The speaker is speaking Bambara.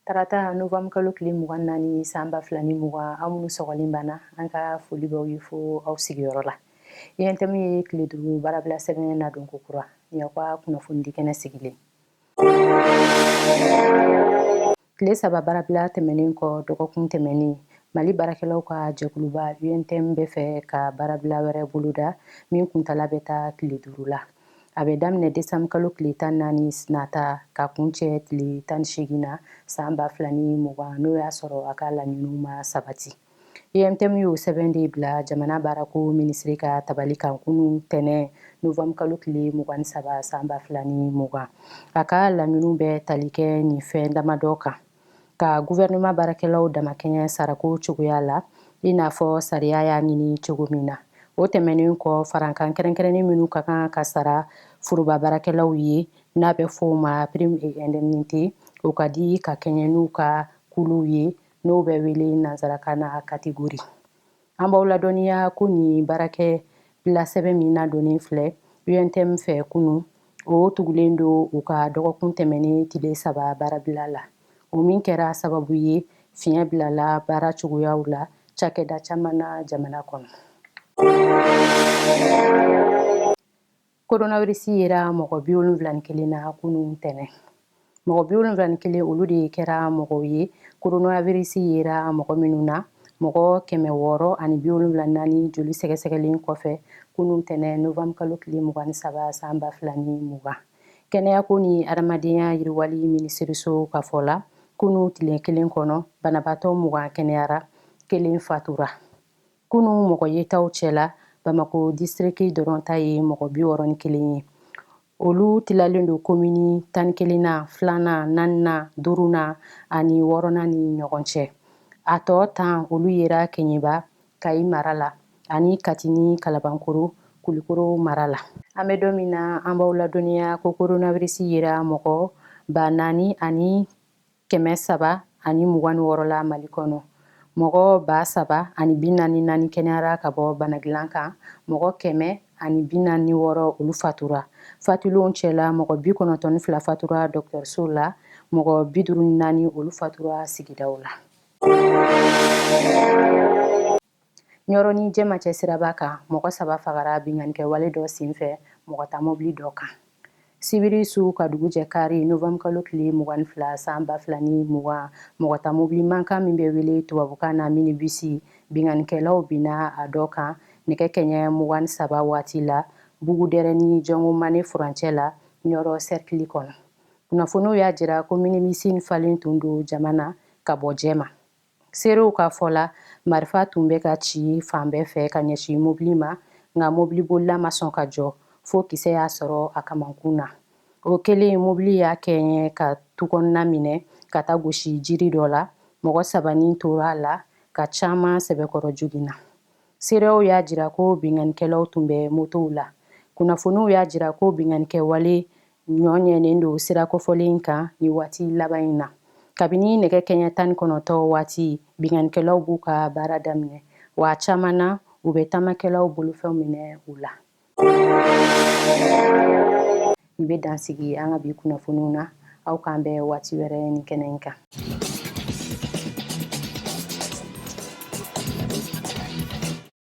tarata novanburu kalo tile mugan naani san ba fila ni mugan aw minnu sɔgɔlen b'an na an ka foli b'aw ye fo aw sigiyɔrɔ la UNTM ye tile duuru baarabila sɛbɛn nadon ko kura nin y'aw ka kunnafoni di kɛnɛ sigilen Tile saba baarabila tɛmɛnen kɔ dɔgɔkun tɛmɛnen mali baarakɛlaw ka jɛkuluba UNTM bɛ fɛ ka baarabila wɛrɛ boloda min kuntaala bɛ taa tile duuru la a bɛ daminɛ desanburu kalo tile tan naani nata ka kuncɛ tile tan ni segin na san ba fila ni mugan n'o y'a sɔrɔ a ka laɲiniw ma sabati UNTM y'o sɛbɛn de bila jamana baarako minisiri ka tabali kan kunun tɛnɛn novembre kalo tile mugan ni saba san ba fila ni mugan a ka laɲiniw bɛ tali kɛ nin fɛn damadɔ kan ka guvɛrɛnema baarakɛlaw damakɛɲɛ sarako cogoya la i n'a fɔ sariya y'a ɲini cogo min na o tɛmɛnen kɔ farankan kɛrɛnkɛrɛnnen minnu ka kan ka sara foroba baarakɛlaw ye n'a bɛ fɔ o ma prime et indemnité o ka di ka kɛɲɛ n'u ka kuluw ye n'o bɛ wele nansarakan na kategori an b'aw ladɔnniya ko nin baarakɛbila sɛbɛn min nadonnen filɛ UNTM fɛ kunun o tugulen don u ka dɔgɔkun tɛmɛnen tile saba baarabila la o min kɛra sababu ye fiɲɛ bilala baara cogoyaw la cakɛda caman na jamana kɔnɔ Koronavirisi yera mɔgɔ bi wolonwula ni kelen na kunun tɛnɛn mɔgɔ bi wolonwula ni kelen olu de kɛra mɔgɔw ye koronavirisi yera mɔgɔ minnu na mɔgɔ kɛmɛ wɔɔrɔ ani bi wolonwula ni naani joli sɛgɛsɛgɛlen kɔfɛ kunun tɛnɛn novanburu kalo tile mugan ni saba san ba fila ni mugan kɛnɛyako ni adamadenya yiriwali minisiriso ka fɔ la kunun tile kelen kɔnɔ banabaatɔ mugan kɛnɛyara kelen fatura kunun mɔgɔ yetaw cɛla bamakɔ disiriki dɔrɔn ta ye mɔgɔ bi wɔɔrɔ ni kelen ye olu tilalen don komini tan ni kelennan filanan naaninan duurunan ani wɔɔrɔnan ni ɲɔgɔn cɛ a tɔ tan olu yera Keɲeba Kayi mara la ani Kati ni kalabankoro kulikoro mara la an bɛ don min na an b'aw ladɔnniya ko koronavirisi yera mɔgɔ ba naani ani kɛmɛ saba ani mugan ni wɔɔrɔ la mali kɔnɔ mɔgɔ ba saba ani bi naani naani kɛnɛyara ka bɔ banadilan kan mɔgɔ kɛmɛ ani bi naani wɔɔrɔ olu fatura fatulenw cɛla mɔgɔ bi kɔnɔntɔn ni fila fatura dɔgɔtɔrɔsow la mɔgɔ bi duuru ni naani olu fatura sigidaw la ɲɔrɔ ni jɛma cɛ siraba kan mɔgɔ saba fagara binkannikɛwale dɔ senfɛ mɔgɔtamɔbili dɔ kan sibiri su ka dugu jɛ kari nowanburukalo tile mugan ni fila san ba fila ni mugan mɔgɔtamɔbili mankan min bɛ wele tubabukan na minibisi binkannikɛlaw binna a dɔ kan nɛgɛ kɛɲɛ mugan ni saba waati la bugudɛrɛ ni jɔngomane furancɛ la ɲɔrɔ sɛrikili kɔnɔ kunnafoniw y'a jira ko minibisi falen tun don jama na ka bɔ jɛma Seerew ka fɔ la, marifa tun bɛ ka ci fan bɛɛ fɛ ka ɲɛsin mobili ma, nka mobilibolila ma sɔn ka jɔ, fo kisɛ y'a sɔrɔ a kamankun na. O kɛlen, mobili y'a kɛɲɛ ka tukɔnɔna minɛ ka taa gosi jiri dɔ la, mɔgɔ saba ni tora a la, ka caman sɛbɛkɔrɔ joginna. Seerew y'a jira ko binkannikɛlaw tun bɛ motow la. Kunnafoniw y'a jira ko binkannikɛwale ɲɔɲɛnen don sira kofɔlen in kan ni waati laban in na kabini nɛgɛ kɛɲɛ tan ni kɔnɔntɔn waati binkannikɛlaw b'u ka baara daminɛ wa caman na u bɛ taamakɛlaw bolofɛn minɛ u la ni bɛ dan sigi an ka bi kunnafoniw na aw k'an bɛn waati wɛrɛ ni kɛnɛ in kan